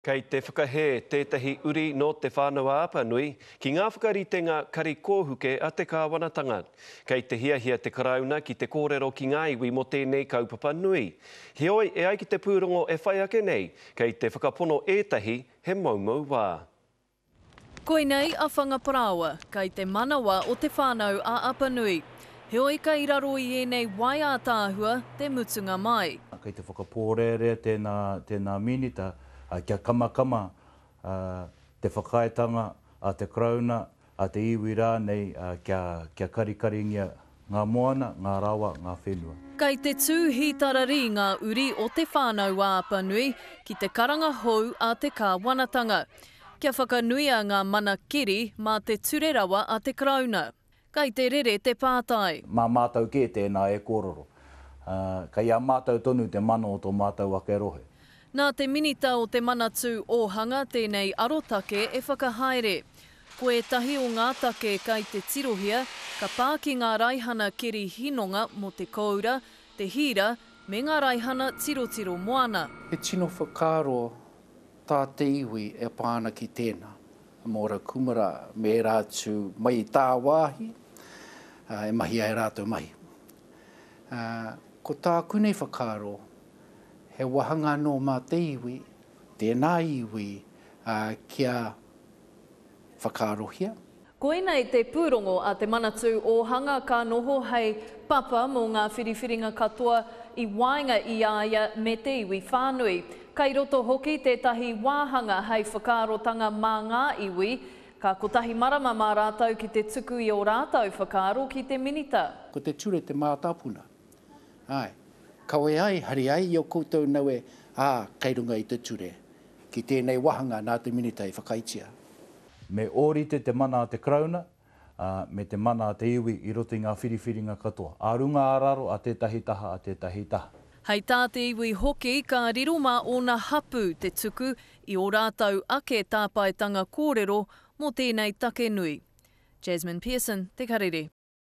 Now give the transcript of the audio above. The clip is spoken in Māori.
Kei te whakahē tētahi uri nō Te Whānau-a-Apanui ki ngā whakaritenga kari kōhuke a te kāwanatanga. Kei te hiahia te Karauna ki te kōrero ki ngā iwi mō tēnei kaupapa nui. Heoi, e ai ki te pūrongo e whai ake nei, kei te whakapono ētahi he moumou wā. Koinei a Whangaparāoa, kei te manawa o Te Whānau-ā-Apanui. Heoi kei raro i ēnei wai ātaahua te mutunga mai. Kei te whakapōrearea tēnā, tēnā Minita kia kamakama te whakaaetanga a te Karauna, a te iwi rānei kia, kia karikaringia Ngā moana, ngā rawa, ngā whenua. Kei te tūhi tararī ngā uri o Te Whānau-ā-Apanui ki te karanga hou a te Kāwanatanga. Kia whakanuia ngā mana keri mā te ture rawa a te Karauna. Kei te rere te pātai. Mā mātou kē tēnā e kōrero. Kei a mātou tonu te mana o tō mātou ake rohe. Nā te Minita o Te Manatū Ōhanga tēnei arotake e whakahaere. Ko ētahi o ngā take kei te tirohia, ka pā ki ngā raihana keri hinonga mō te kōura, te hīra, me ngā raihana tirotiro moana. He tino whakaaro tā te iwi e pā ana ki tēnā, mō Ra Kumara me ērā atu mai i tāwāhi e mahi ai rātou mahi. Ko tāku nei whakaaro, He wāhanga anō mā te iwi, tēnā iwi, ā, kia whakaarohia. Koinei te pūrongo a Te Manatū Ōhanga ka noho hei papa mō ngā whiriwhiringa katoa i waenga i a ia me te iwi whānui. Kei roto hoki tētahi wāhanga hei whakaarotanga mā ngā iwi, ka kotahi marama mā rātou ki te tuku i ō rātou whakaaro ki te Minita. Ko te ture te mātāpuna, Āe, kawe ai, hari ai i ō koutou nawe, ā, kei runga i te ture, ki tēnei wāhanga nā te Minita i whakaaetia. Me ōrite te mana a te Karauna, ā, me te mana a te iwi i roto i ngā whiriwhiringa katoa, ā runga ā raro a tētahi taha, a tētahi taha. Hei tā te iwi hoki, ka riro mā ōna hapū te tuku i ō rātou ake tāpaetanga kōrero mō tēnei take nui. Jasmine Pearson, Te Karere.